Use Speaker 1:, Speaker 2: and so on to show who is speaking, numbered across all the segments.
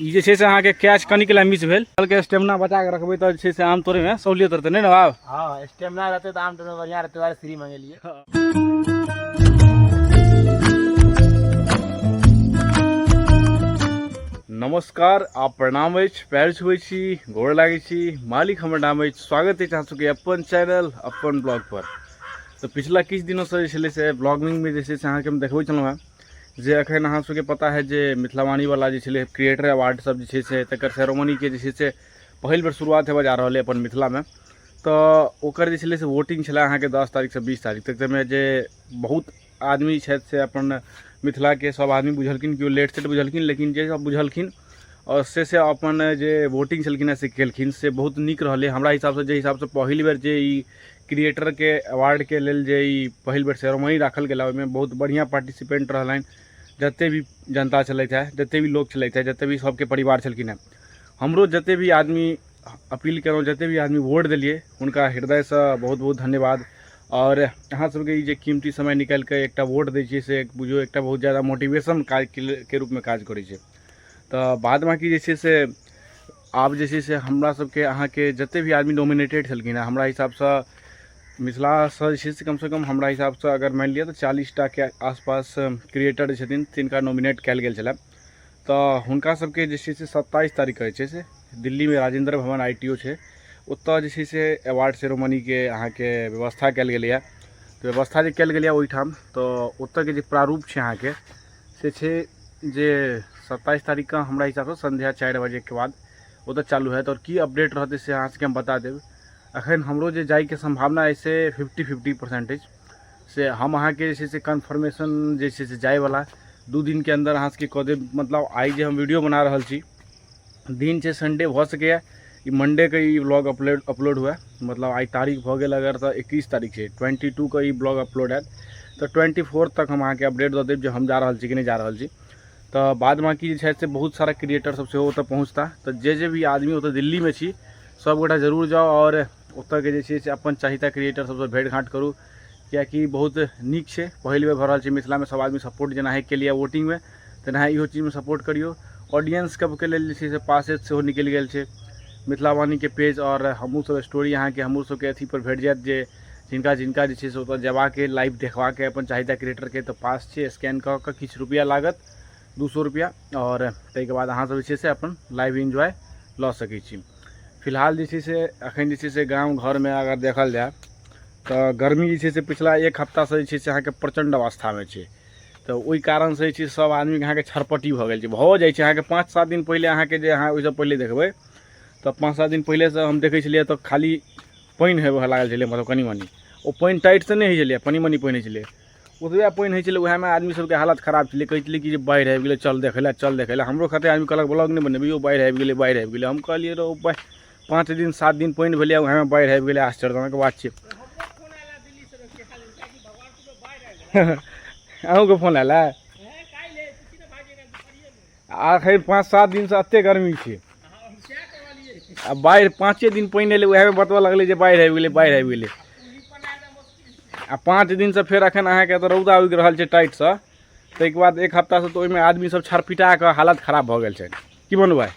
Speaker 1: ई जे छै से अहाँके कैच कनिक लए मिस भेल कहलकै स्टेमिना बचा कऽ रखबै तऽ जे छै से आम तोड़ैमे सहूलियत रहतै नहि ने बाब हँ स्टेमिना रहतै
Speaker 2: तऽ आम तोड़ैमे बढ़िआँ रहतै दुआरे फ्री मङ्गेलियै
Speaker 1: नमस्कार आ प्रणाम अछि पैर छुबै छी गोड़ लागै छी मालिक हमर नाम अछि स्वागत अछि अहाँ सबके अपन चैनल अपन ब्लॉग पर तऽ पिछला किछु दिनोसँ जे छलै से ब्लॉगिंगमे जे छै से अहाँके हम देखबै छलहुँ हेँ जे एखन अहाँ सबके पता है जे मिथिलावाणी वाला जे छलै क्रिएटर अवार्ड सब जे छै से तकर सेरोमनी के जे छै से पहिल बेर शुरुआत हेबऽ जा रहल है अपन मिथिला मे तऽ ओकर जे छलै से वोटिंग छलै अहाँके दस तारीख से बीस तारीख तक जाहिमे जे बहुत आदमी छथि से अपन मिथिला के सब आदमी बुझलखिन केओ लेट सेट बुझलखिन लेकिन जे सब बुझलखिन आओर से से अपन जे वोटिंग छलखिन हँ से केलखिन से बहुत नीक रहलै हमरा हिसाब से जाहि हिसाब से पहिल बेर जे ई क्रिएटरके अवार्डके लेल जे ई पहिल बेर सेरोमनी राखल गेल ओहिमे बहुत बढ़िआँ पार्टिसिपेंट रहलनि जते भी जनता छलथि है जते भी लोक छलथि है जते भी सबके परिवार छलखिन है हमरो जते भी आदमी अपील केलहुँ जते भी आदमी वोट देलियै हुनका हृदयसँ बहुत बहुत धन्यवाद आओर अहाँ सबके ई जे कीमती समय निकालि कऽ एकटा वोट दै छियै से बुझियौ एकटा बहुत जादा मोटिवेशन काजके रूपमे काज करै छै तऽ बाद बाँकी जे छै से आब जे छै से हमरा सबके अहाँके जते भी आदमी नोमिनेटेड छलखिन हँ हमरा हिसाबसँ मिथिलासँ जे छै से कमसँ कम हमरा हिसाबसँ अगर मानि लिअ तऽ चालीस टाके आसपास क्रिएटर जे छथिन तिनका नोमिनेट कयल गेल छलए तऽ हुनका सबके जे छै से सत्ताइस तारीख कहै छै से दिल्लीमे राजेन्द्र भवन आई टी ओ छै ओतऽ जे छै से अवार्ड सेरोमनीके अहाँके व्यवस्था कयल गेलैए तऽ व्यवस्था जे कयल गेलैए ओहिठाम तऽ ओतऽके जे प्रारूप छै अहाँके से छै जे सत्ताइस तारीखके हमरा हिसाबसँ सन्ध्या चारि बजेके बाद ओतऽ चालू हैत आओर की अपडेट रहतै से अहाँ सबके हम बता देब अखन हमरो जे जाइके सम्भावना अछि से फिफ्टी फिफ्टी परसेंट अछि से हम अहाँके जे छै से कन्फर्मेशन जे छै से जाइवला दू दिनके अन्दर अहाँ सबके कऽ देब मतलब आइ जे हम वीडियो बना रहल छी दिन छै संडे भऽ सकैए ई मंडेके ई ब्लॉग अपलोड अपलोड हुए मतलब आइ तारीख भऽ गेल अगर तऽ एकैस तारीख छै ट्वेंटी टूके ई ब्लॉग अपलोड हैत तऽ ट्वेंटी फोर तक हम अहाँके अपडेट दऽ देब जे हम जा रहल छी कि नहि जा रहल छी तऽ बाद बाँकी जे छै से बहुत सारा क्रिएटरसभ सेहो ओतय पहुँचता तऽ जे जे भी आदमी ओतय दिल्लीमे छी सभगोटा जरूर जाउ आओर ओतऽके जे छै से अपन चाहता क्रिएटर सबसँ भेँट घाँट करू किएकि बहुत नीक छै पहिल बेर भऽ रहल छै मिथिलामे सब आदमी सपोर्ट जेना अहीँ केलिए वोटिङ्गमे तेना इहो चीजमे सपोर्ट करिऔ ऑडियन्स सबके लेल जे छै से पासेज सेहो निकलि गेल छै मिथिलावाणीके पेज आओर हमहूँसभ स्टोरी अहाँके हमहूँसभके अथीपर भेट जाएत जे जिनका जिनका जे छै से ओतऽ जेबाके लाइव देखबाके अपन चाहता क्रिएटरके तऽ पास छै स्कैन कऽ कऽ किछु रुपैआ लागत दू सए रुपैआ आओर ताहिके बाद अहाँसभ जे छै से अपन लाइव इन्जॉय लऽ सकै छी फिलहाल जे छै से एखन जे छै से गाम घरमे अगर देखल जाय तऽ गर्मी जे छै से पिछला एक हफ्तासँ जे छै से अहाँके प्रचण्ड अवस्थामे छै तऽ ओहि कारणसँ जे छै सभ आदमीके अहाँके छरपट्टी भऽ गेल छै भऽ जाइ छै अहाँके पाँच सात दिन पहिले अहाँके जे अहाँ ओहिसँ पहिले देखबै तऽ पाँच सात दिन पहिलेसँ हम देखै छलियै तऽ खाली पानि हेबय लागल छलै मतलब कनि मनि ओ पानि टाइटसँ नहि होइ छलै कनि मनि पानि होइ छलै ओतबे पानि होइ छलै ओहेमे आदमी सबके हालत खराब छलै कहय छलै कि जे बाढ़ि आबि गेलय चल देखय लए चल देखय लए हमरो कते आदमी कहलक ब्लॉग नहि बनेबही यौ बाढ़ि आबि गेलय बाढ़ि आबि गेलय हम कहलियै रौ बा पाँच दिन सात दिन पानि भेलइए ओहेमे बाढ़ि आबि गेलय आश्चर्यजनक बात छै अहूँके फोन आयल है आखिर पाँच सात दिनसँ एते गर्मी छै आ बाढ़ि पाँचे दिन पानि एलै उएहमे बतबऽ लगलै जे बाढ़ि आबि गेलै बाढ़ि आबि गेलै आ पाँच दिनसँ फेर एखन अहाँके एतऽ रौदा उगि रहल छै टाइटसँ ताहिके बाद एक हफ्तासँ तऽ ओहिमे आदमी सब छरपिटा कऽ हालत खराब भऽ गेल छै की बनू भाइ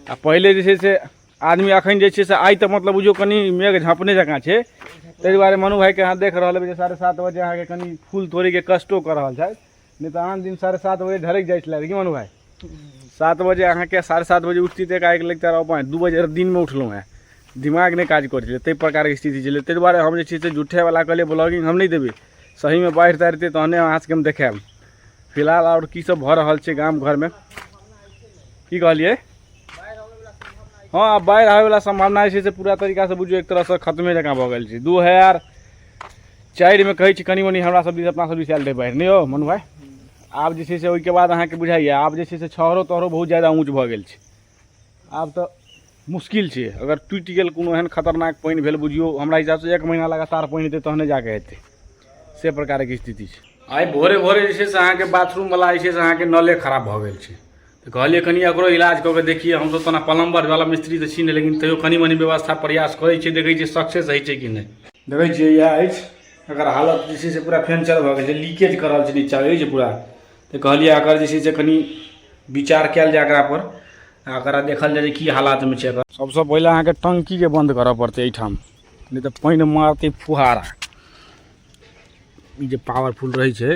Speaker 1: आ पहिले जे छै से आदमी अखन जे छै से आइ तऽ मतलब बुझियौ कनि मेघ झाँपने जकाँ छै ताहि दुआरे मनु भाइके अहाँ देख रहल हेबै जे साढ़े सात बजे अहाँके कनि फूल तोड़ैके कष्टो कऽ रहल छथि नहि तऽ आन दिन साढ़े सात बजे ढरकि जाइ छलै कि मनु भाइ सात बजे अहाँके साढ़े सात बजे उठती तऽ एकाएक लगता रहऽ पाँच दू बजे दिनमे उठलहुँ हेँ दिमाग नहि काज करै छलै ताहि प्रकारके स्थिति छलै ताहि दुआरे हम जे छै से झूठेवला कहलियै ब्लॉगिंग हम नहि देबै सहीमे बाढ़ि ताढ़ि एतै तहने अहाँ सभके हम देखायब फिलहाल आओर की सब भऽ रहल छै गाम घरमे की कहलियै हँ आब बाढ़ि आबैवला सम्भावना जे छै से पूरा तरीकासँ बुझियौ एक तरहसँ खतमे जकाँ भऽ गेल छै दू हजार चारिमे कहै छी कनि मनि हमरा सब दिस अपना सब दिस आयल रहै बाढ़ि नहि यौ मनु भाइ आब जे छै से ओहिके बाद अहाँके बुझाइए आब जे छै से छहरो तहरो बहुत ज्यादा ऊँच भऽ गेल छै आब तऽ मुश्किल छै अगर टूटि गेल कोनो एहन खतरनाक पानि भेल बुझियौ हमरा हिसाबसँ एक महीना लगातार पानि हेतै तहने जाके हेतै से प्रकारके स्थिति छै आइ भोरे भोरे जे छै से अहाँके बाथरूमवला जे छै से अहाँके नले खराब भऽ गेल छै तऽ कहलियै कनि एकरो इलाज कऽ के देखियै हमसभ तऽ ओना पलम्बरवला मिस्त्री तऽ छी नहि लेकिन तैयो कनि मनि व्यवस्था प्रयास करै छियै देखै छियै सक्सेस होइ छै कि नहि देखै छियै इएह अछि एकर हालत जे छै से पूरा फेंचर भऽ गेल छै लीकेज कऽ रहल छै नीचाँ रहै छै पूरा तऽ कहलियै एकर जे छै से कनि विचार कयल जाय एकरापर आ एकरा देखल जाय जे की हालातमे छै एकर सभसँ पहिले अहाँके टंकीके बन्द करय पड़तै एहिठाम नहि तऽ पानि मारतै फुहारा ई जे पावरफुल रहै छै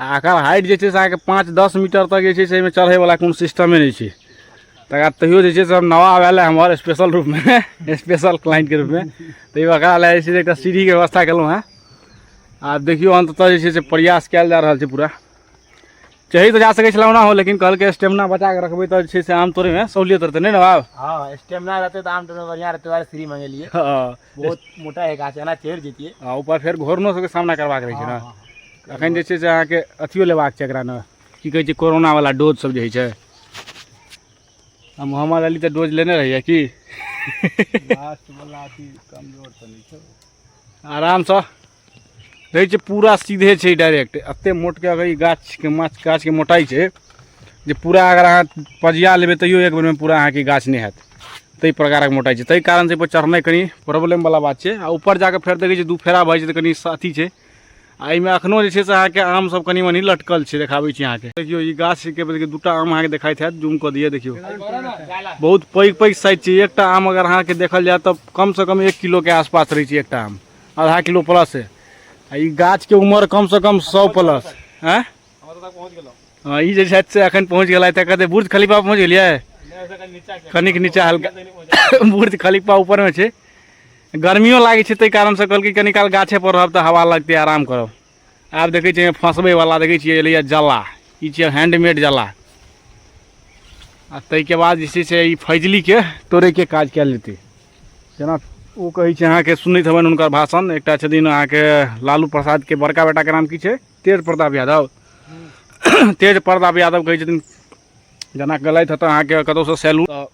Speaker 1: आ एकर हाइट जे छै से अहाँके पाँच दस मीटर तक जे छै से एहिमे चढ़ैवला कोनो सिस्टमे नहि छै तकर बाद तैयो जे छै से हम नवा आयल हमर स्पेशल रूपमे स्पेशल क्लाइंटके रूपमे तैयो एकरा लए जे छै से एकटा सीढ़ीके व्यवस्था केलहुँ हेँ आब देखियौ अन्ततः जे छै से प्रयास कयल जा रहल छै पूरा चढ़ि तऽ जा सकै छलहुँ ओना हो लेकिन कहलकै स्टेमिना बचा कऽ रखबै तऽ जे छै से आम तोड़ैमे सहूलियत रहतै नहि ने बाब हँ स्टेमिना रहतै
Speaker 2: तऽ आम तोड़ैमे बढ़िआँ रहतै दुआरे सीढ़ी मङ्गेलियै हँ बहुत मोटा है गाछ एना चढ़ि जैतियै आ ऊपर फेर घोरनो सबके
Speaker 1: सामना करबाक रहै छै ने अखन जे छै से अहाँके अथियो लेबाक छै एकरा ने की कहै छै कोरोना वाला डोज सब जे होइ छै आ मोहम्मद अली तऽ डोज लेने रहियै की लास्ट
Speaker 2: वाला अथी कमजोर तऽ नहि छै
Speaker 1: आरामसँ रहै छै पूरा सीधे छै डायरेक्ट एतेक मोटके अगर ई गाछके माछ गाछके मोटाइ छै जे पूरा अगर अहाँ पजिया लेबै तैयो एक बेरमे पूरा अहाँके गाछ नहि हैत ताहि प्रकारक मोटाइ छै ताहि कारणसँ एहिपर चढ़नाइ कनि प्रॉब्लमवला बात छै आ ऊपर जाकऽ फेर देखै छियै दू फेरा भऽ जाइ छै तऽ कनि अथी छै आ एहिमे एखनो जे छै से अहाँके आम सब कनि मनि लटकल छै देखाबै छी अहाँके देखियौ ई गाछके देखियौ दूटा आम अहाँके देखाइत हैत जूम कऽ दिअ देखियौ बहुत पैघ पैघ साइज छै एकटा आम अगर अहाँके देखल जाय तऽ कमसँ कम एक किलोके आसपास रहै छै एकटा आम आधा किलो प्लस है आ ई गाछके उम्र कमसँ कम सौ प्लस आँय हम तऽ पहुँच गेलहुँ हँ ई जे छथि से एखन पहुँच गेला तऽ कहतै बुर्ज खलीफा पहुँच गेलियै नहि ओहिसँ कनि नीचा छै कनिक नीचा हल्का जल्दी नहि पहुँचल। बुर्ज खलीफा ऊपरमे छै गर्मियो लागै छै ताहि कारणसँ कहलकै कनी काल गाछेपर रहब तऽ हवा लगतै आराम करब आब देखै छियै फँसबैवला देखै छियै एलैए जला ई छियै हैंडमेड जला आ ताहिके बाद जे छै से ई फैजलीके तोड़ैके काज कयल जेतै जेना ओ कहै छै अहाँके सुनैत हेबनि हुनकर भाषण एकटा छथिन अहाँके लालू प्रसादके बड़का बेटाके नाम की छै तेज प्रताप यादव तेज प्रताप यादव कहै छथिन जेना गलैत हेतै अहाँके कतहुसँ सैलून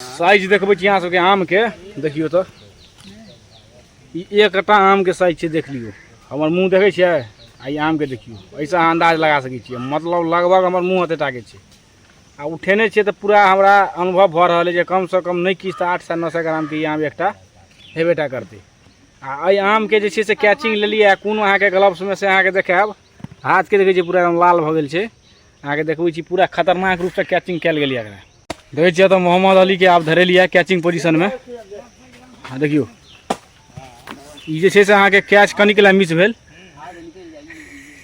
Speaker 1: साइज देखबै छी अहाँ सबके आमके देखियौ तऽ ई एकटा आमके साइज छै देख लियौ हमर मुँह देखै छियै आ ई आमके देखियौ एहिसँ अहाँ अन्दाज लगा सकै छियै मतलब लगभग हमर मुँह एते टाके छै आ उठेने छियै तऽ पूरा हमरा अनुभव भऽ रहल अइ जे कमसँ कम नहि किछु तऽ आठ सए नओ सए ग्रामके ई आम एकटा हेबेटा करतै आ एहि आमके जे छै से कैचिंग लेलियै कोनो अहाँके ग्लव्समे से अहाँके देखायब हाथके देखै छियै पूरा एकदम लाल भऽ गेल छै अहाँके देखबै छी पूरा खतरनाक रूपसँ कैचिंग कयल गेल यऽ एकरा देखै छियै तऽ मोहम्मद अलीके आब धरेली यऽ कैचिंग पोजिशनमे आ देखियौ ई जे छै से अहाँके कैच कनिक लए मिस भेल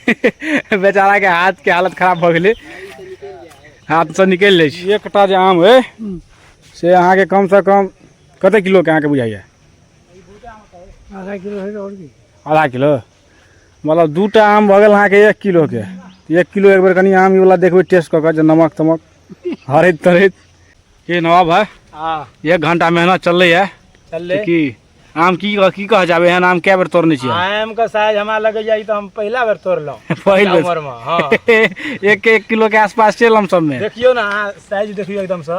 Speaker 1: बेचाराके हाथके हालत खराब भऽ गेलै हाथसँ निकलि लै छी एकटा जे आम अइ से अहाँके कमसँ कम कतेक किलोके अहाँके बुझाइए आधा किलो
Speaker 2: आधा किलो
Speaker 1: मतलब दू टा आम भऽ गेल अहाँके एक किलोके एक किलो एक बेर कनि आम ई वाला देखबै टेस्ट कऽ कऽ जे नमक तमक हरैत तरैत के नवाब भाई हाँ एक घंटा मेहनत चललै है चल ले की आम की कह- की कह जाबे एहन आम कए बेर तोड़ने छियै आम का साइज हमरा
Speaker 2: लगे जाई तो हम पहला बेर तोड़लहुँ पहिल बेर। उम्र में हाँ एक
Speaker 1: एक किलो
Speaker 2: के
Speaker 1: आसपास
Speaker 2: चलम
Speaker 1: सबमे देखियो
Speaker 2: ना
Speaker 1: अहाँ
Speaker 2: साइज
Speaker 1: देखियो एकदम
Speaker 2: से